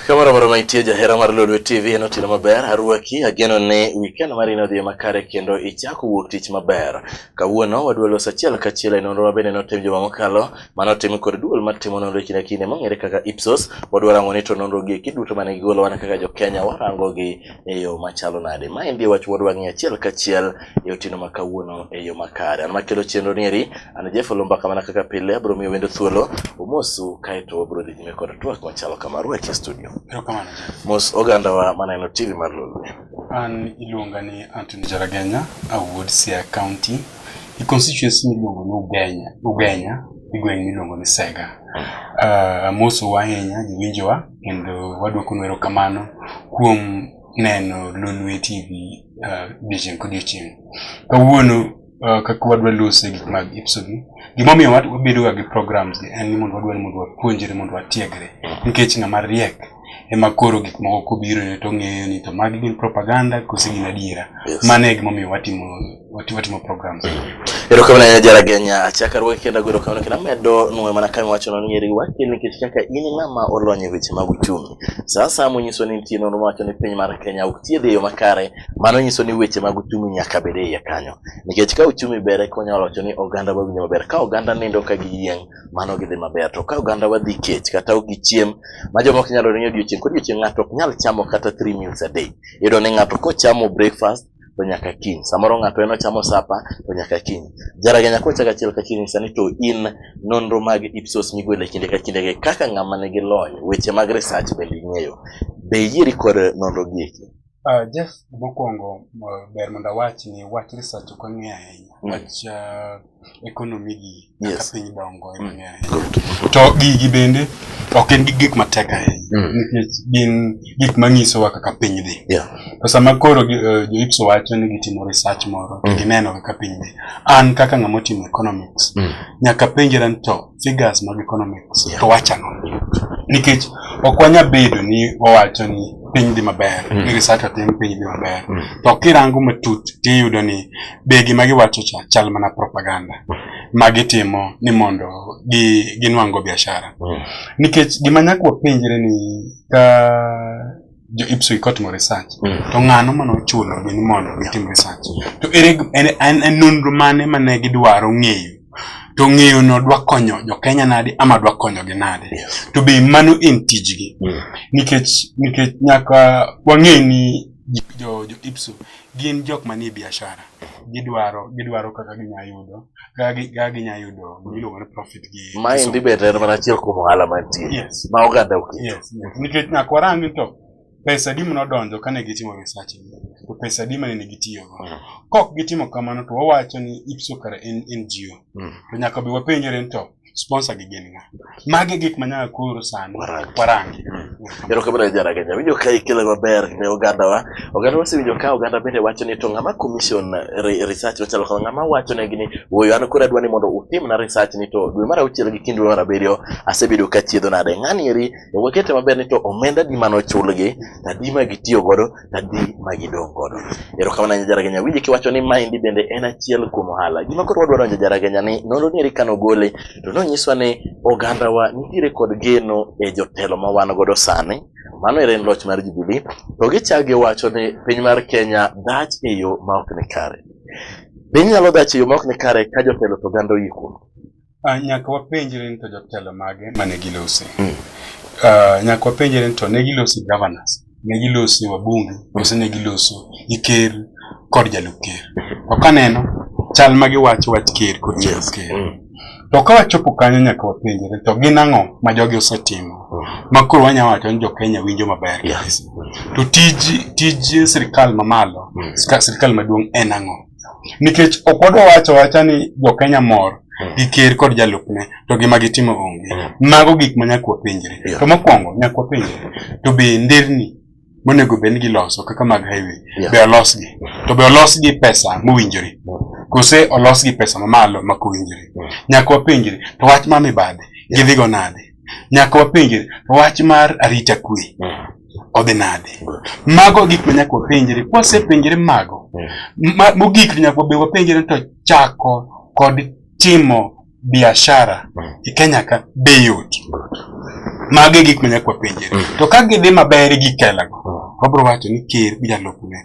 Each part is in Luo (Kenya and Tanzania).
kamano moro mantie jahera mar Lolwe TV en otieno maber arwaki ageno ni weekend mari ne odhi makare kendo ichako wuok tich maber kawuono wadwa loso achiel kachiel e nonro mabende notim juma mokalo mano otim kod duol matimo nonro kinde kinde mong'ere kaka Ipsos wadwa rango ni to nonro gi duto mane gigolo wan kaka jo Kenya warango gi e yo machalo nade. Ma endi wach moro wang'e achiel kachiel e otieno ma kawuono e yo makare. An makelo chenro ni eri, an Jeff Olumba kamana kaka pile, abro miyo wendo thuolo, umosu kaeto wabro dhi nyime kod twak machalo kama ruach e studio. Erokamano Jeff. Mos ogandawa maneno TV mar Lolwe. An iluonga ni Anthony Jaragenya, awuod Siaya County, e constituency miluongo ni Ugenya, Ugenya, e gweng' miluongo ni Sega. Uh, amosu ahinya jowinjowa kendo waduoko nwero kamano kuom neno Lolwe TV odiechieng' kodiechieng'. Kawuono uh, kaka wadwa lose gik mag Ipsogi, gimomiyo wat- wabedoga gi programs gi en ni mondo wadwa ni mondo wapuonjre mondo watiegre nikech ng'ama riek ema koro gik moko kobirone to ong'eyo ni to magi gin propaganda kose gin adiera Yes. mano e gimomiyo watimo watimo timo programs erokamano ahinya jaragenya achaka ruoke kendo agwero kamano kendo amedo nwe mana kama iwachono ni eri wake nikech kaka in ng'ama olony e weche mag uchumi sa asaya monyiso ni nitie nonro mawacho ni piny mar kenya ok thiedh e yo makare mano nyiso ni weche mag uchumi nyaka bed e iye kanyo nikech ka uchumi ber eka wanyalo wacho ni oganda wawinjo maber ka oganda nindo ka giyieng' mano gidhi maber to ka oganda wadhi kech kata ok gichiem ma joma ok nyalo ringo odiochieng' kodiochieng' ng'ato ok nyal chamo kata three meals a day iyudo ni ng'ato kochamo breakfast to nyaka kiny samoro ng'ato en ochamo sapa to nyaka kiny jaraga nyako chaka achiel ka kiny sani to in nonro mag ipsos migwele kinde ka kinde kaka ng'ama nigi lony weche mag research bende ing'eyo be iyieri kod nonro gi eki Uh, Jeff, mokwongo ber mondo awach ni wach research ok ang'eyo ahinya. Mm. Wach uh, economy gi kaka Yes. piny dongo e mang'eny ahinya. Good. to gigi bende ok en gi gik matek ahinya Mm. nikech gin gik manyisowa kaka piny dhi Yeah. to sama koro gi- eh, jo-IPSO wacho ni gitimo research moro to Mm. gineno kaka piny dhi an kaka ng'ama otimo economics Mm. nyaka penjera ni to figures mag economics yeah. to wachano nikech ok wanya bedo ni wawacho ni piny dhi maber mm. ni research otim piny dhi maber mm. to kirango matut tiyudo ni be gima giwacho cha chal mana propaganda mm. ma gitimo ni mondo gi ginwango biashara mm. nikech gima nyaka wapenjre ni ka jo IPSO kotimo research mm. to ng'ano mane ochulo gi ni mondo gitim research to ere en en nonro mane mane gidwaro ng'eyo to ng'eyo no dwa konyo jo Kenya nadi ama dwa konyo gi nadi to be mano en tijgi mm. nikech nikech nyaka wang'e ni jo jo IPSO gin jok manie biashara gidwaro gidwaro kaka ginyalo yudo kaka ginya yudo gimiluongo ni profit gi maendi be en mana achiel kuom ohala mantie ma oganda oketo nikech nyaka warangi to pesa di manodonjo kane gitimo research to pesa di mane gitiyogo mm. kok gitimo kamano to wawacho ni ipso kare en ngo mm. to nyaka be wapenjore ni to sponsor gi gin nga. Magi gik manyaka koro sani warangi. Mm. Ero kamano jara Kenya. Winjo ka ikele maber ne oganda wa. Oganda wa sewinjo ka oganda bende wacho ni to ng'ama commission eh, research wachalo kama ng'ama wacho ne gini woyo an koro adwa ni mondo utim na research ni to dwe mar auchiel gi kinde mar abiriyo asebedo ka chiedho nade. Ng'ani eri wakete maber ni to omenda di mano chulgi, adi ma gitiyo godo tadhi ma gidong' godo. Erokamano nya Jaragenya, awinjo kiwacho ni maendi bende en achiel kuom ohala. Gima koro wadwaro donjo Jaragenya ni nonro ni eri ka nogole to nonyiswa ni ogandawa nitiere kod geno e jotelo ma wan godo sani mano ere en loch mar Jubilee to gichak giwacho ni piny mar Kenya dhach e yo ma ok ni kare. Be inyalo dhach e yo ma ok ni kare ka jotelo to oganda oyie kuom? Ah, nyaka wapenjre ni to jotelo mage mane gilose mm. ah, nyaka wapenjre ni to ne gilosi governors ne gilosi wabunge kose ne giloso gi ker kod jalup ker to kaneno chal ma giwacho wach ker kod jalup ker mm. to ka wachopo kanyo nyaka wapenjre to gin ang'o ma jogi osetimo mm. ma koro wanyalo wacho ni jokenya winjo maber to tij tij sirikal mamalo sirikal maduong' en ang'o nikech ok wadwa wacho wacha ni jokenya mor hmm. gi ker kod jalupne to gima gitimo onge hmm. mago gik ma nyaka wapenjre to mokwongo nyaka wapenjre to be nderni monego bed ni giloso kaka mag highway be olosgi to be olosgi pesa mowinjore hmm. kose olosgi pesa mamalo mak owinjore nyaka wapenjre to wach ma mibadhi gidhigo nade nyaka wapenjre to wach mar arita kwe odhi nade mago gik ma nyaka wapenjre kwasepenjre mago mogik nyaka be wapenjre to chako kod timo biashara e Kenya ka be yot mago e gik ma nyaka wapenjre to ka gidhi maber gi kelago wabro wacho ni ker gi jalupne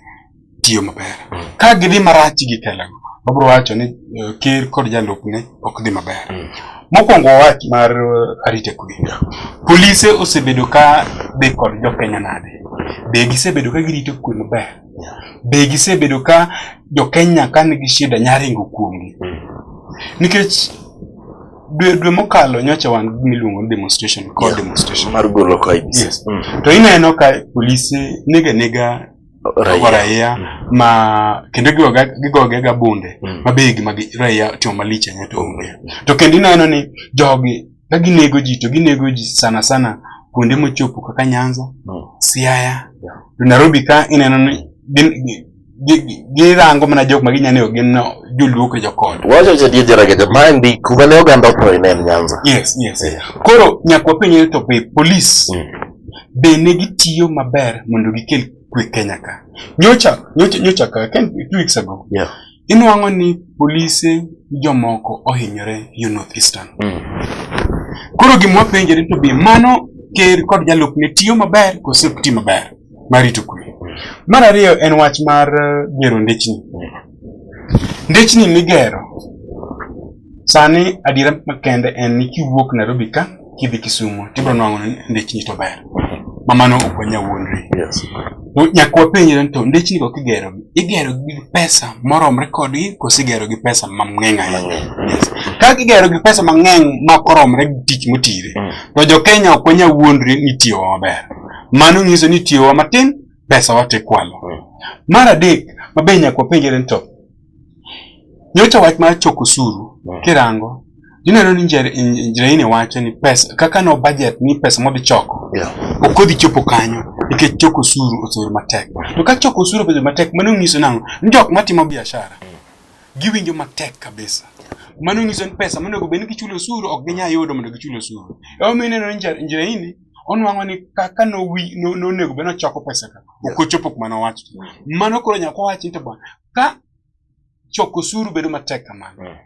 tiyo maber. Ka gidhi marach gi telego, wabiro wacho ni eh, ker kod jalupne ok dhi maber. Mm. Mokwongo wach mar eh, arita kwe. Polise osebedo ka dhi kod jokenya nade? Be gisebedo ka girito kwe maber? Be gisebedo ka jokenya ka nigi shida nyaringo kuomgi? Mm. Nikech dwe dwe mokalo nyocha wan miluongo ni demonstration kod demonstration mar golo ka yes. mm. to ineno ka polise nega nega raia, raia mm. ma kendo gigoge ga bunde mm. ma be gima raia timo malich ahinya to onge mm. to kendo ineno ni jogi ka ginego ji to ginego ji sana sana kuonde mochopo kaka Nyanza mm. Siaya yeah. to Nairobi ka ineno ni girango mana jok ma ginyane gin joluo kod jokod wacho cha die jara kete ma ndi kuma ne oganda otho ne Nyanza yes yes yeah. koro nyakwa penye to be police mm. be ne gitiyo maber mondo gikel kwe Kenya ka. Nyocha, nyocha, nyocha ka, ken, two weeks ago. Yeah. Inwang'o ni polise jomoko ohinyore yo North Eastern. Mm. Koro gimwa penjere to be mano ker kod jalup ne tiyo maber kose ok ti maber marito kwe. Mm. Mar ariyo en wach mar eh, gero ndechni. Mm. Ndechni migero Sani adiera makende en ni kiwuok Nairobi ka kidhi Kisumu tibro nwang'o ni ndechni to ber ma mano ok wanya wuondri. Yes. To nyaka wapenjre ni to ndechni go kigero igero gi pesa moromre kodgi koso igero gi pesa mang'eny ahinya. Yes. Ka kigero gi pesa mang'eny ma ok oromre gi tich motire Mm. to jo Kenya ok wanya wuondri ni tiyowa maber. Mano nyiso ni tiyowa matin pesa watekwalo. Mm. Mar adek ma be nyaka wapenjre ni to Nyocha wach mar choko osuru mm. kirango ineno ni Njiraini wacho ni pesa kaka no budget ni pesa modhi choko yeah. ok odhi chopo kanyo nikech choko osuru osuru matek to ka choko osuru obedo matek mano nyiso nang'o ni jok matimo biashara giwinjo matek kabisa mano nyiso ni pesa monego bed ni gichulo osuru ok ginyal yudo mondo gichul osuru emomiyo ineno ni Njiraini onwang'o ni kaka nonego bed nochoko pesa ka ok ochopo kuma nowacho mano koro nyaka wawachi ni to bwana Ka choko osuru bedo matek kamano, mm.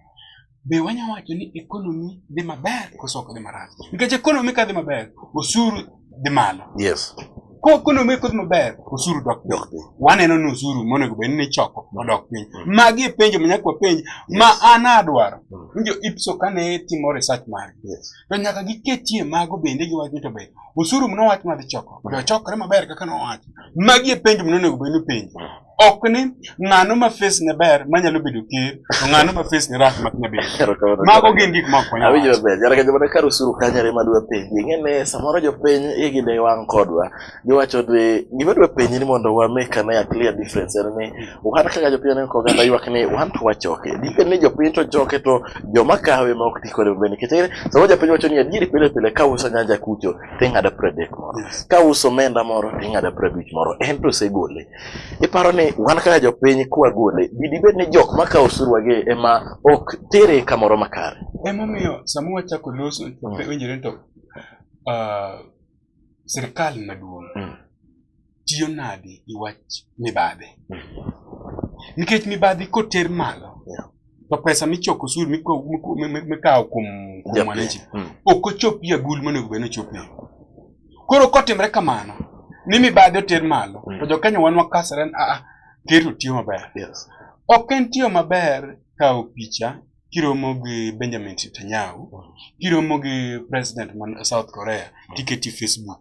be wanyalo wacho ni ekonomi dhi maber koso ok dhi marach? Nikech ekonomi ka dhi maber, osuru dhi malo. Yes. Ko ekonomi kodhi maber, osuru dok piny. Waneno ni osuru monego bed ni choko odok piny. Mm. Magi e penjo manyaka wapenj ma an adwaro. Mm. Winjo IPSO kane timo research mari. Yes. To nyaka giketie mago bende giwacho to be osuru mnowach madhi choko. Be ochokore maber kaka nowach. Magi e penjo mnonego bed ni penjo. ok ni ng'ano ma face ne ber manyalo bedo ker to ng'ano ma face ne rach ma nyalo bedo ker. mago gin gik ma konyo awinjo ber jara ka jomane kar usuru kanyare ma dwa penji ing'e ni samoro jopiny igi ne wang' kodwa giwacho ni gima dwa penji ni mondo wa make ane a clear difference en ni wan kaka jopiny ne ko ganda ywak ni wan to wachoke dipe ni jopiny to choke to joma kawe ma ok ti kode maber nikech ing'e ni samoro japiny wacho ni adieri pile pile ka uso nyanja kucho ting'ado pradek moro ka uso omenda moro ting'ado prabich moro en to osegole Iparo ni wan kaka jopiny kwagole, bi dibed ni jok ma kawo osuruwagi ema ok tere kamoro makare? Emomiyo sama wachako loso, Mm. winjore ni to ah, sirkal maduong' Mm. tiyo nade gi wach mibadhi. Nikech mibadhi koter malo, Yeah. to pesa michoko osuru mikawo kuom mwananchi hmm. ok ochopie agul monego bed ni ochopie koro kotimre kamano ni mibadhi oter malo hmm. to jokanyo wan wakasre ni aa ker to tiyo maber ok en tiyo maber kawo picha kiromo gi benjamin netanyahu hmm. kiromo gi president man south korea tiketi facebook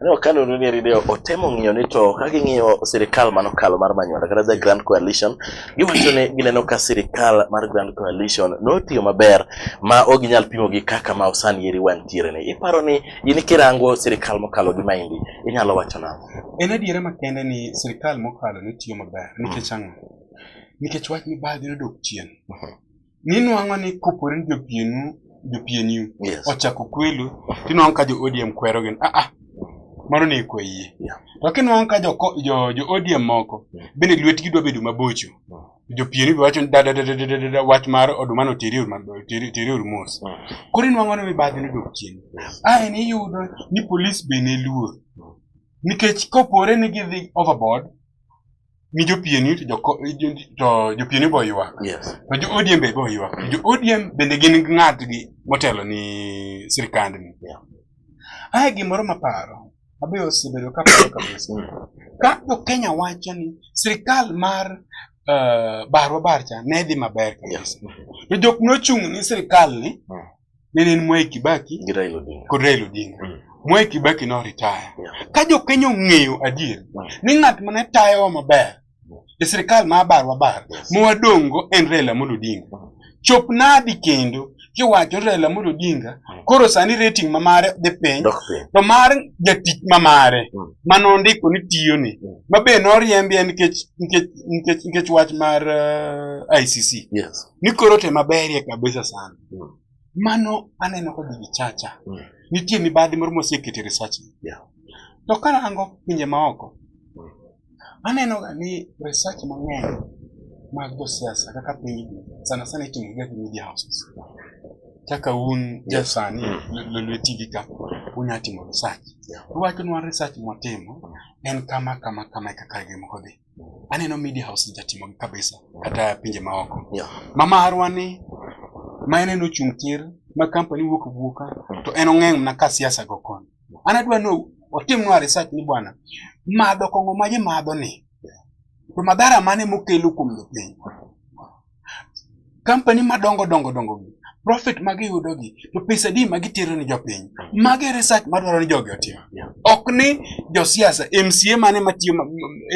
Aneno ka nonro ni Rideo otemo ng'iyo ni to ka ging'iyo sirikal mano kalo mar Manyuanda kata the Grand Coalition, giwacho ni gineno ka sirikal mar Grand Coalition notiyo maber ma ok ginyal pimo gi kaka ma osani eri wantiere ni. Iparo ni in kirango sirikal mokalo gi maendi, inyalo wacho nang'o? En adiera makende ni sirikal mokalo ne tiyo maber nikech ang'o? Nikech wach mibadhi nodok chien. ninwang'o ni kopore ni jopienu jopieniu yes. ochako kwelo tinwang'o ka jo odm kwero gin ah, ah. mano ne ikwe yie yeah. to kinwang'o ka jo, jo, jo odm moko yeah. bende lwetgi dwa bedo mabocho yeah. Mm. jopieni be wacho dadadadadada wach mar oduma no teri ormos mm. koro inwang'o ni mibadhi nodok chien ae ni iyudo ni polis be ne luor mm. nikech kopore ni gidhi overboard mi jopieni to joko- jo- to jopieni bo ywak Yes. to jo odm be bo ywak to jo odm bende gin ng'atgi motelo ni sirikandni Yeah. ae gimoro maparo abe osebedo kaparo kabisa Mm. ka jokenya wacho ni sirikal mar uh, barwa barcha ne dhi maber kabisa to jok nochung' ni sirikal ni Mm. nene en Mwai Kibaki gi Raila Odinga kod Raila Odinga mm. Mwai Kibaki no retire yeah. ka jo Kenya ong'eyo adier mm. ni ng'at mane tayowa maber mm. e sirikal ma abar wabar yes. mwadongo en Raila Amolo Odinga mm. chop nadi kendo kiwacho Raila Amolo Odinga mm. koro sani rating ma mare dhi piny to mar jatich ma mare mm. ma nondiko ni tiyoni mm. ma be noriembie nikech nikech nikech nikech wach mar uh, ICC yes. ni koro te maberie kabisa sana Mm. Mano aneno kod gichacha. Mm. Nitie mibadhi moro mosekete research. Yeah. To karango pinje maoko, mm. aneno ga ni research mang'eny mag josiasa kaka piny sana sana itimo ga gi media houses. Kaka un jasani mm. lolweti gi ka unya timo research. Yeah. Uwacho nwa research mwatimo mm. en kama kama kama e kaka gimoko dhi. aneno media house ni jatimo gi kabisa kata pinje maoko yeah. mama arwani ma en en ochung' tir ma kampani wuok wuoka to en ong'eng' na ka siasa go kon an adwa ni otimnwa research ni bwana madho kong'o ma ji madho ni to madhara mane mokelo kuom jopiny Kampani madongo dongo dongo gi profit ma giyudo gi to pesa di ma gitero ni jopiny. Magi e research madwaro ni jogi otim. Ok ni josiasa MCA mane matiyo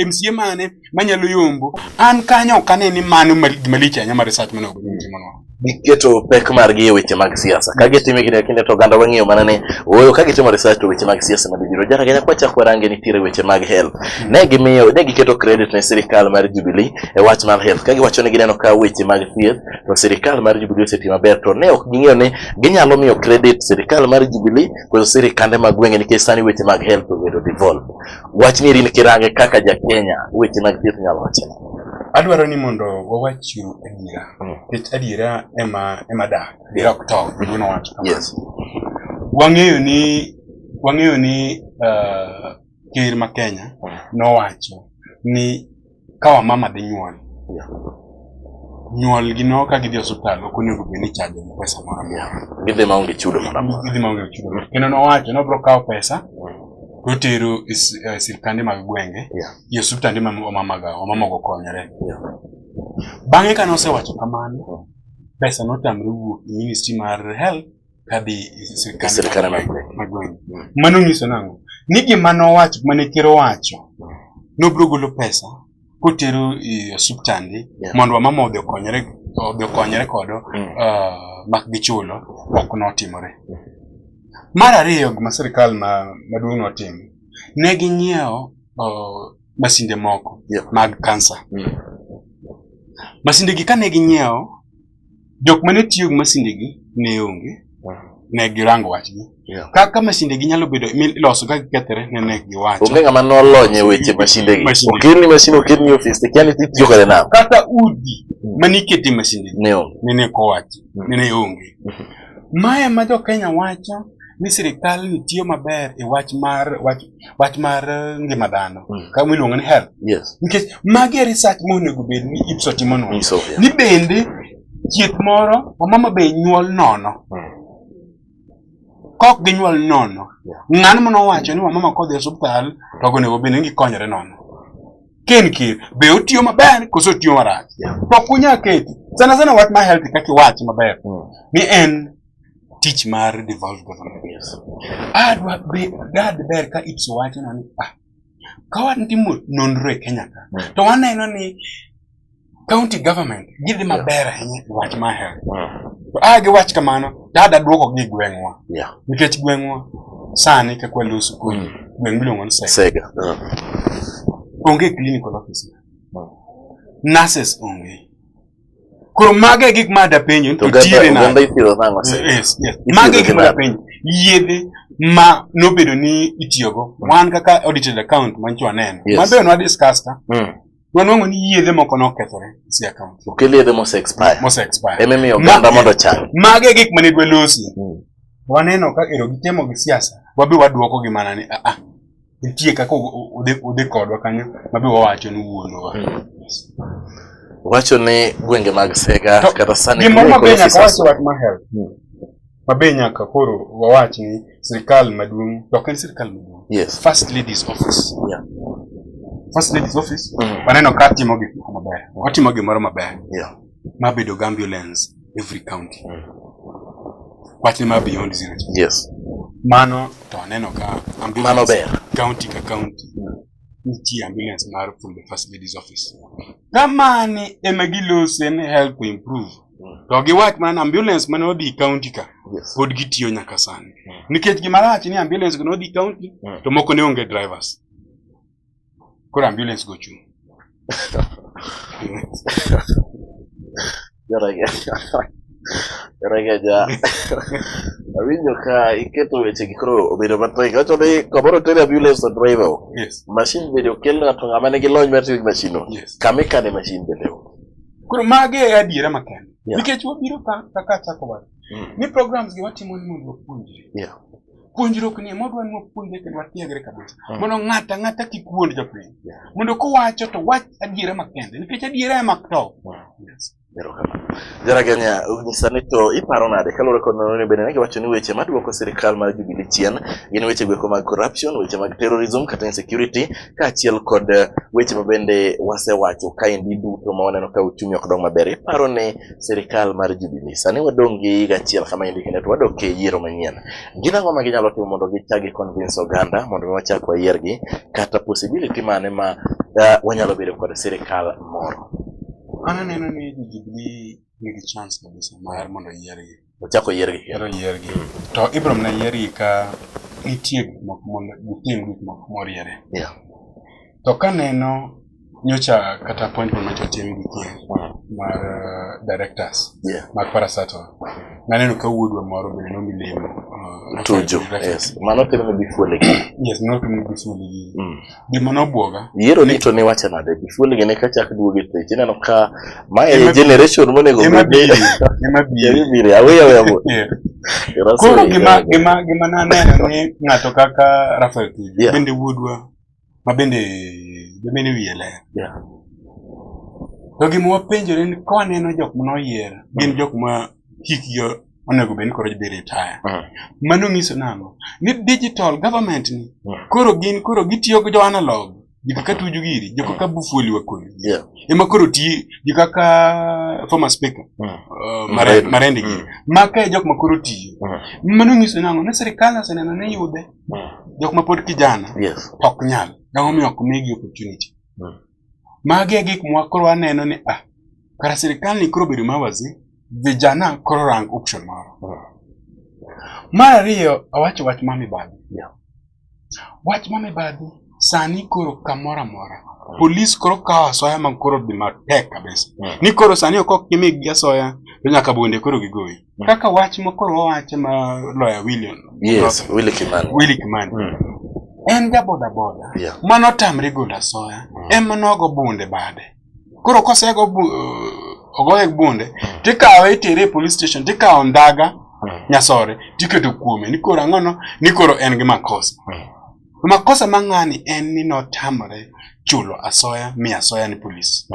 MCA mane manyalo yombo an kanyo ok ane ni mano malich ahinya ma research mane obedo timonwa. giketo pek margi e weche mag siasa ka gitime kinde kinde to oganda wang'eyo mana ni ooyo ka gitimo research to weche mag siasa madhi biro jara kenya kwachak warange nitiere weche mag health ne gimiyo ne giketo credit ne sirikal mar Jubilee e wach mar health ka giwacho ni gineno ka weche mag thieth to sirikal mar Jubilee oseti maber to ne ok ging'eyo ni ginyalo miyo credit sirikal mar Jubilee kod sirikande mag gwenge nikech sani weche mag health obedo devolved. Wach ni rin kirange kaka ja Kenya weche mag thieth nyalo wacho. Adwaro ni mondo wawach adiera hmm. nikech adiera ema ema dak adiera ok tow gino wacho. Yes. Wang'eyo ni wang'eyo ni uh, ker ma Kenya nowacho ni ka wamama dhi nyuol nyuol gi no ka gidhi osiptal ok onego bed ni ichajo gi pesa moro amora gidhi ma onge chudo moro amora gidhi ma onge chudo moro kendo nowacho ni obiro kawo pesa totero e s- e sirkande mag gwenge Yeah. gi osiptande ma wamamaga wamamogo konyore Yeah. bang'e ka nosewacho kamano pesa notamre wuok e ministry mar health kadhi e sirkande mag gweng'. Mm. Mano nyiso nang'o? Ni gima nowacho, mane ker owacho, nobro golo pesa kotero e osuptande mondo wamama odhi okonyre odhi okonyre kodo mm. ah, mak gichulo ok notimore. Mm. Mar ariyo gima sirkal maduong' notimo, ne ginyiewo oh, masinde moko mag kansa. Masindegi kane ginyiewo Jok mane tiyo gi masindegi ne onge, ne girango wachgi. Yeah. Kaka masindegi nyalo bedo miloso ka gikethre ne ne giwacho. Onge ng'ama nolony e weche masindegi. Okelni masin okelni ofis te kiani tiyo kode nam. Kata udi mm. mane ikete masindegi ne onge. Ne ne kowachi, mm. ne ne onge. Mm-hmm. Mae ma jo Kenya wacho ni sirikal ni tiyo maber e wach mar wach wach mar eh, ngima dhano mm. kama iluongo ni health yes. nikech magi e research monego bed ni IPSO timo nono so, yeah. ni bende chieth moro wamama be nyuol nono mm. kok ginyuol nono yeah. ng'ano mane owacho ni wamama kodhi e osuptal to onego bed ni gikonyore nono ken kir be otiyo maber koso otiyo marach yeah. to kunya keti sana sana wach ma health kaka iwach maber mm. ni en tich mar devolved government yes. Ah, dad ber ka ipso wacho na ni ah, ka watimo nonro e Kenya ka mm. to waneno ni county government gidhi maber ahinya e wach mar health mm. to a ah, giwach kamano dada duoko gi gweng'wa nikech gweng'wa sani kaka waloso koni mm. gweng' miluongo ni Sega onge clinical office nurses onge Koro mago e gik ma dapenjo to tire na. Oganda ipidho nang'o se? Yes, yes. Mago e gik ma dapenjo. Yedhe ma nobedo ni itiyogo. Mm. Wan kaka audited account ma nyicho aneno. Yes. Mabe onwa discuss ta. Mm. Wanwango ni yedhe moko nokethore si account. Okel yedhe mose expire. Mose expire. Eme miyo oganda mondo chang. Mago e gik ma ne dwe losi. Mm. Waneno ka ero gitemo gi siasa. Wabe waduoko gi mana ni a ah, a. Ah. nitie kaka udhi kodwa kanyo mabe wawacho ni wuonwa hmm. wacho ni gwenge mag sega kata sani gimoro mabe nyaka wach wach mar health hmm. mabe nyaka koro wawach ni sirikal maduong' to ok en sirikal maduong' yes. first ladies office yeah. first ladies office mm. waneno ka timo gik moko maber watimo gimoro maber yeah. ma bedo gi ambulance every county mm. wachne ma beyond zero yes mano to aneno ka mano ber county ka county nitie ambulance mar from the first lady's office kamani ema gilose ni help to improve mm. to giwach mana ambulance mane odhi county ka yes. pod gitiyo nyaka sani mm. nikech gimarach ni ambulance go nodhi county mm. to moko ne onge drivers koro ambulance go chung' Regeja. Awinjo ka iketo weche gi koro obedo matek. Wacho ni kamoro tere ambulance to driver. Yes. Mashin bende okel ng'ato ng'ama nigi lony mar tiyo gi mashin no. Yes. Kama ikane mashin bende. Koro mage e adiera makende. Yeah. Nikech wabiro ka kaka chako wacho. Mm. Ni programs gi watimo ni mondo wapuonjre. Yeah. puonjruok ni modwa ni wapuonjre kendo watiegre kabisa hmm. mondo ng'ata ng'ata kik wuond jopiny mondo kowacho to wach adiera makende nikech adiera ema to jaraganya nyisa ni to iparo nade kaluwore kod nonro ni bende ne giwacho ni weche maduoko sirikal mar Jubilee chien gin weche gweko mag corruption weche mag terrorism kata insecurity kaachiel kod weche mabende wasewacho kaendi duto ma waneno ka uchumi ok dong maber iparo ni sirikal mar Jubilee. Sani wadong' gi higa achiel kama endi kendo to wadok e yiero manyien. Gin ang'o ma ginyalo timo mondo gichak gi-convince oganda mondo mi wachak wayiergi kata possibility mane ma ah, wanyalo bedo kod sirikal moro? An aneno ni jo Jubilee nigi chance kabisa mar mondo oyiergi. Ochako yiergi. Koro yiergi. To Ibram ne yiergi ka nitie gik moko mondo gitim gik moko moriere. Yeah. To kaneno nyocha kata appointment ma jotim gi kien mar uh, directors Yeah. mag Parastatal, naneno ka wuodwa moro bende nomi lemo. uh, Tuju. Yes. Mano timo ni bifuele gi. Yes, not only this one, the Mm. gima nobwoga yiero ni to niwacho nade gifuol gene ka chak duoge pech ineno ka ma e generation monego ema biri ema biri biri aweya weya mo koro gima gima gima naneno ni ng'ato kaka Rafael Tuju bende wuodwa ma bende bende wiye ler to gima wapenjore ni ka waneno jok ma noyier gin jok ma hikgi onego bed ni koro dhi retire. Mm. Mano nyiso nang'o? Ni digital government ni mm. koro gin koro gitiyo gi jo analog jiko ka tuju giri jiko mm. ka bufuli wakoni yeah. ema koro ti jiko ka former speaker mm. uh, marendi mare mm. giri maka e jok ma koro tiyo mm. mano nyiso nang'o ne sirikal oseneno ni yude mm. jok ma pod kijana yes. ok nyal gang'omiyo ok migi opportunity mm. Magi e gik mwa koro aneno ni ah, kara sirikal ni koro bedo mawazi vijana koro rang option moro. Mar ariyo awacho wach ma mibadhi. Yeah. Wach ma mibadhi sani koro kamoro amora polis koro kawo asoya ma koro dhi matek kabisa. Yeah. Ni koro sani ok ok kimigi asoya to nyaka bunde koro gigoyi. Kaka wach mokoro wawache ma loya William. Yes, Willy Kimani. Willy Kimani. Mm. En ja boda boda. Yeah. Mano tamre golo asoya. Mm. En mano ogo bunde bade. Koro kosego bu, uh, ogoye bunde, mm. tikawe itere e police station, tikawo ndaga mm. nyasore, tiketo kuome. Nikoro ang'ono, nikoro en gi makosa. Mm. Makosa ma ng'ani en ni notamore chulo asoya mi asoya ni polis.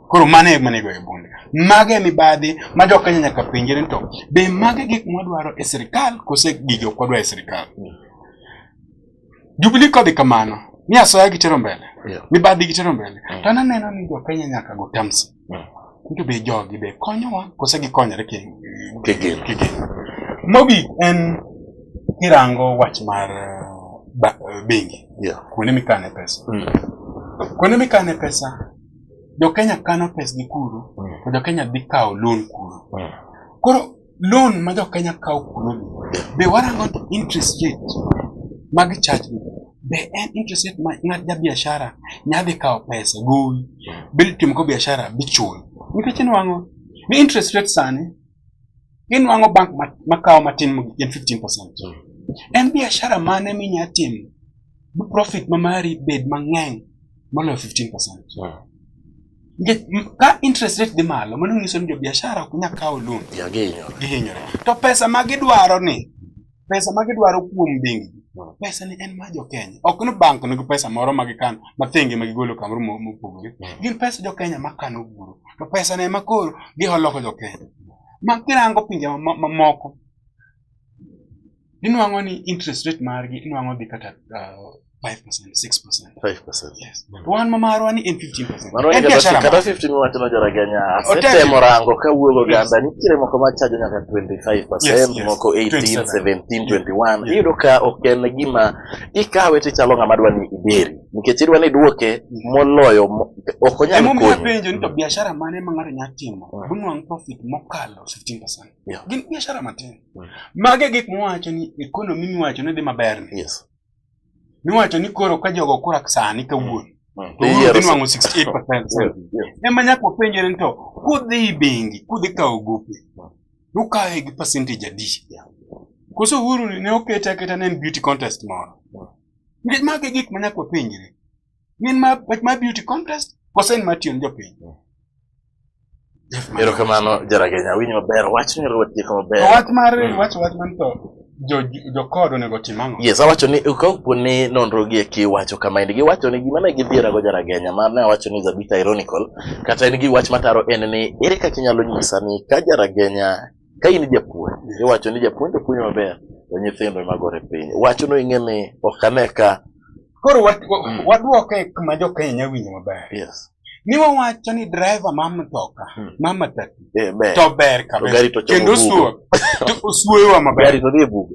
Koro mano e mane goyo bunde. Mage e mibadhi ma jo Kenya nyaka penjre ni to be mage gik mwadwaro e sirkal kose gigi ok wadwar e sirkal. Jubilee kodhi kamano ni asoya gitero mbele, Yeah. mibadhi gitero mbele. To an aneno ni jo Kenya nyaka go terms. Ngi be jogi be konyowa kose gikonyore ki ki gin. Ki gin. Mogik en kirango wach mar eh, bengi. Yeah. Kuonde mikane pesa. Mm. Kuonde mikane pesa jo Kenya kano pesgi kuro mm. to jo Kenya dhi kawo loan kuro. Mm. Koro loan ma jo Kenya kawo kunomi be warango ni interest rate mag charge be en interest rate ma ng'at ja biashara nyadhi kawo pesa gowi be timo ko biashara bichul nikech inwang'o ni interest rate sani inwang'o bank makawo matin mogik en 15 percent en biashara mane minya timo bi profit ma mari bed mang'eny moloyo 15 percent ka interest rate dhi malo mano nyiso ni jobiashara ok nyal kawo loan gihinyore to pesa ma gidwaro ni pesa ma gidwaro kuom bengi hmm. pesa ni en ma jokenya ok ni bank nigi pesa moro ma gikano ma thenge ma gigolo kamoro mopogore hmm. gin pesa jokenya ma kano guro to pesa ne ma koro giholoko jokenya ma kirango pinje mamoko inwang'o ni interest rate margi inwang'o dhi kata uh, 5%, 6%. 5%. Yes. Mm. Wan ma marwa ni en 15%. Marwa en biashara. Kata 15 wacho na jara ganya. Asetemo rango ka wuogo ganda nitiere moko ma chajo nyaka 25%, yes, yes. moko 18, 17, 21. Iyudo ka ok en gima ikawe ti chalo ng'ama dwa ni iberi. Nikech idwa ni duoke moloyo ok onyal konyi. Emomiyo penjo ni to biashara mane ma ng'ato nyalo timo? Bunwang mm. profit mokalo 15%. Yeah. Gin biashara matin. Mm. Mage gik muwacho ni economy miwacho ni dhi maber ni. Yes. Miwacho ni koro ka jogo kura sani kawuono. Mm. To wuono dhi nwang'o 68%. Ema nyaka wapenjre ni to kudhi bengi, kudhi kawo gope. Mm. Ukawe gi percentage adi? Yeah. Koso Uhuru ne okete aketa ne en beauty contest moro. Mm. Mage gik manyaka wapenjre. Min ma ma beauty contest kosen ma tiyo jopiny. Erokamano Jaragenya, awinjo maber. Wach ni ruwet jiko maber. Wach mar hmm. wach wach man to jokod onego tim ang'o? Yes, awacho ni kapo ni nonro gi eki wacho kama en giwacho ni gima ne gidhiera go jaragenya ma ne awacho ni is a bit ironical kata en gi wach mataro en ni ere kaka inyalo nyisa ni ka jaragenya Ka in japuonj, iwacho ni japuonj to puonjo maber, to nyithindo ema gore piny. Wachno ing'e ni ok ane ka. Koro wat- wa- Mm. wadwoke kuma jokenya nya winjo maber Yes. ni wawacho ni driver ma mtoka Mm. ma matatu Eh, ber. to ber To kabisa gari to chomo kendo bugo. suo to usuewa maber Gari to dhi e bugo.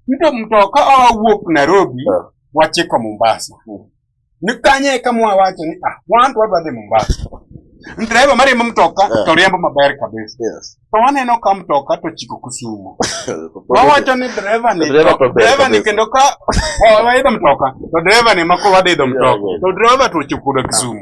nito mtoka owuok nairobi Ah. wachiko mombasa Mm. Ni kanye eka mwawacho ni ah, wan to wadwa dhi Mombasa. Driver mariembo mtoka Yeah. to riembo maber kabisa. Yes. To waneno ka mtoka to chiko Kisumu. Wawacho ni driver ni Driver to ber driver ni kabisa. kendo ka waidho mtoka to driver ni mako wadidho mtoka. Yeah, yeah. To driver to chikudo Kisumu.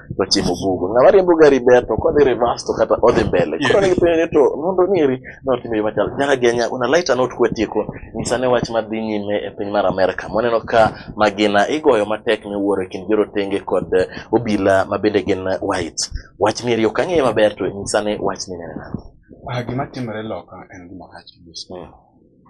tochimo bugo ng'ama riembo gari ber to kodhi reverse to kata odhi mbele koro ni penjo ni to mondo ong'eri ne otimo yo machal nyaka genya una laita not kwetieko nyisa ne wach madhi nyime e piny mar Amerka moneno ka magina igoyo matek miwuoro e kind jorotenge kod eh, obila ma bende gin whites wach mieri ok ang'eyo maber to nyisa ne wach minene nade Ah, gima timore loka en gima rach kabisa.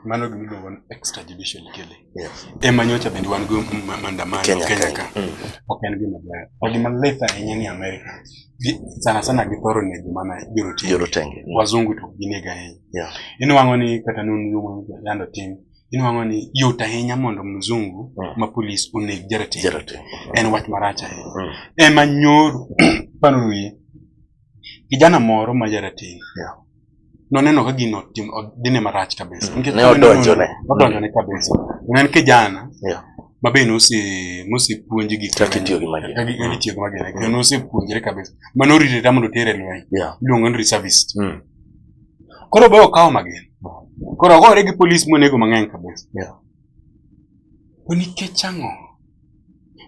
Mano gima iluongo ni extrajudicial killing. Yes. Ema nyocha bende wan go maandamano Kenya, Kenya Kenya. ka. Mm. Ok en gima ber. Ok gima lith ahinya ni Amerika. Gi- Sana sana githoro nego mana jorotenge. Jorotenge. Wazungu to ok gineg ahinya. Yeah. Inwang'o ni kata nonro ma Uganda otim, inwang'o ni yot ahinya mondo mzungu Mm. ma polis oneg jarateng. Jarateng. En wach marach ahinya. Mm. Ema nyoro paro wiye. Kijana moro ma jarateng Yeah. noneno ka gino tim- o- dhine marach kabisa Nikech Ne noneno- odonjone. odonjone kabisa ne en kijana Yeah. ma be nose- nosepuonj gik Kaka mang'eny. itiyo gi magina. Kaka gi- kaka itiyo gi magina kendo nosepuonjre kabisa ma norite ta mondo otere e lweny Yeah. iluongo ni reservist Mm. koro be okawo magina koro ogore gi polis monego mang'eny kabisa Yeah. to nikech ang'o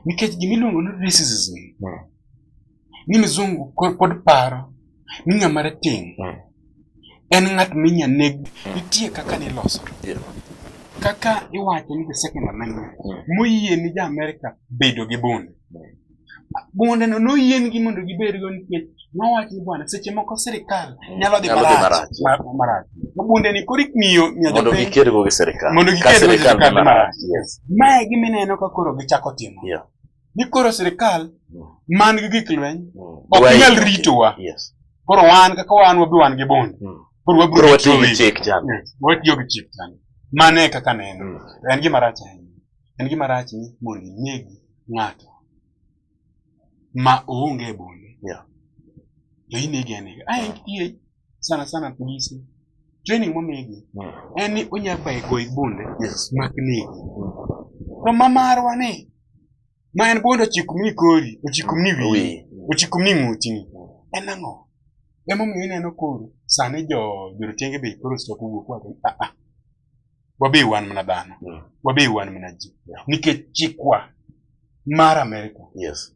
nikech gimiluongo ni racism Mm. ni mizungu kod paro ni ng'ama rateng' mm. en ng'at minya neg mm. nitie kaka niloso kaka iwacho ni the second amendment mm. moyie ni ja Amerika bedo gi bunde bunde no noyiengi mondo gibed go nikech nowach ni bwana seche moko sirikal nyalo dhi marach marach bunde ni koro ikmiyo mondo giker go gi sirikal mondo giker go gi sirikal marach mae gimineno ka koro gichako timo ni koro sirkal mm. man gi gik lweny mm. ok nyal ritowa koro wan kaka wan wabi wan gi bond mm. koro wabiro watiyo gi chik chan watiyo gi chik chan mane kaka neno en gima rach ahinya en gima rach ni mondo ineg ng'ato ma oonge bonde to inege anega ae sana sana polisi training momigi en ni onya baye goyi bunde mak negi to ma marwa ni ma en bunde ochikumni kori ochikumni wiyi ochikumni ng'utini en ang'o emomiyo ineno koro sani jo jorotenge be koro stop wuok wacho ah, ah. wabe wan mana dhano wabe wan mana ji nikech chikwa mar Amerika yes.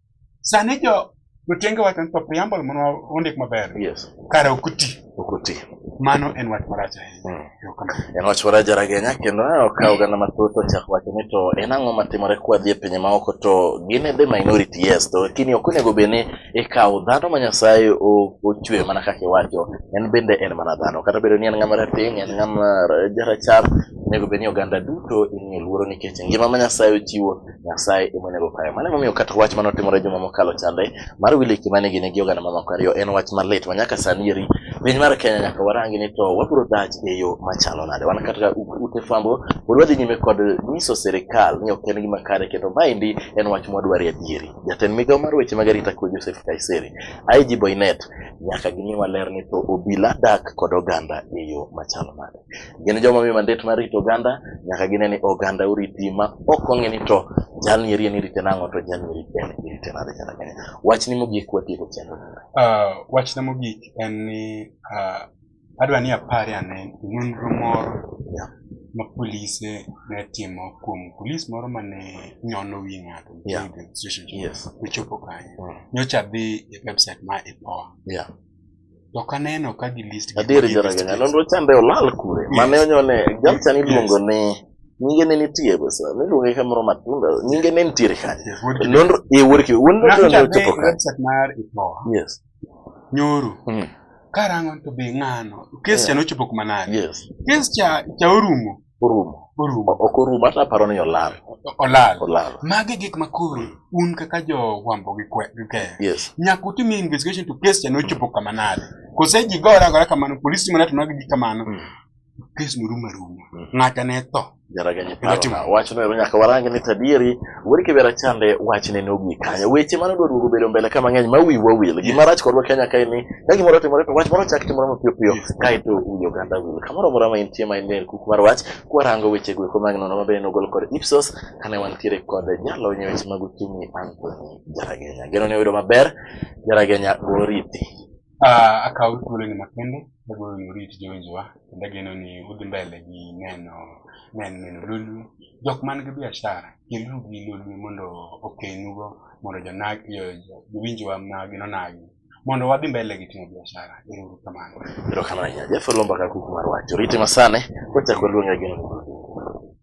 Sani jo jotenge wacho ni to preamble mondo ondik maber. Yes. Kare ok ti. Ok ti. Mano en wach marach ahinya. Mm. En wach marach jaragenya kendo ne okawo oganda mathoth ochak wacho ni to en ang'o matimore kwa dhi e pinje maoko to gin e the minority yes to lakini ok onego bed ni ikawo dhano ma Nyasaye ochwe mana kaka iwacho en bende en mana dhano kata bedo ni en ng'ama rateng' en ng'ama jarachar onego bed ni oganda duto imiyo luoro nikech ngima ma Nyasaye ochiwo Nyasaye emonego kayo. Mano emomiyo kata wach mane otimore juma mokalo chande mar Willy Kimani gi negi oganda mamako ariyo en wach malit ma nyaka sani eri piny mar Kenya nyaka warangi ni to wabiro dak e yo machalo nade. Wan kata u- ute fwambo pod wadhi nyime kod nyiso sirikal ni ok en gima kare kendo maendi en wach mwadwaro e adieri. Jatend migawo mar weche mag arita kwe Joseph Kaiseri, IG Boynet nyaka gimiwa ler ni to obila dak kod oganda e yo machalo nade. gin joma miyo mandet mar rito oganda nyaka gine ni oganda oriti ma ok ong'e ni to jalni eri en irite nang'o to jalni eri en irite nade kata kenya wachni mogik watieko chenro uh, wachna mogik en ni uh, adwa ni apare ane nonro moro yeah. ma polise ne timo kuom polis moro ma ne nyono wi ng'ato yeah. yes. ochopo kanyo mm. nyocha dhi e website ma ipoa yeah. To kaneno ka gi list gi. Adier jo rega nyalo ndo chande olal kure. Mane onyone jalcha ni luongo ni nyinge ne nitie besa ne luonge ka moro matunda nyinge ne nitiere kanye nonro e wuod ki wuod no ne ochopo ka website mar ipoa yes nyoro mm. karango to be ngano kes cha yeah. nochopo kuma nade yes kes cha cha orumo orumo orumo ok orumo hata aparo ni olal olal olal magi gik ma koro un kaka jo wambo gi kwe gi ke yes nyaka utim investigation to case chano chopo kama nade kose ji gora gora kamano police mana to nagi kamano mm. case murumo rumo mm. ngata ne to jaragani paro wachno nyaka warangi ni tadieri Wuod Kibera chande wach ne nogi kanyo. Weche mane odwa duogo bedo mbele ka mang'eny ma wiwa wil. Gima rach kodwa Kenya kae ni ka gimoro otimore to wach moro chak timore mapiyo piyo kae to wi oganda wil. Kamoro amora ma intie ma intie kuk mar wach kwarango weche go eko mag nono mabe nogol kod Ipsos kane wantiere kod jalony e weche mag uchumi Anthony Jaragenya. Geno ni oyudo maber Jaragenya goriti. Ah, akawo thuoloni makende, agolo ni orit jowinjowa. kendo ageno ni udhi mbele gi neno neno neno lolwe jok man gi biashara keluru gi lolwe mondo okenugo mondo jonag- jo- jo- jowinjowa magi nonagi mondo wadhi mbele gi timo biashara ero uru kamano Erokamano ahinya. Jeff Olomba ka kuku mar wach. Orite masane, kochako luonga gino.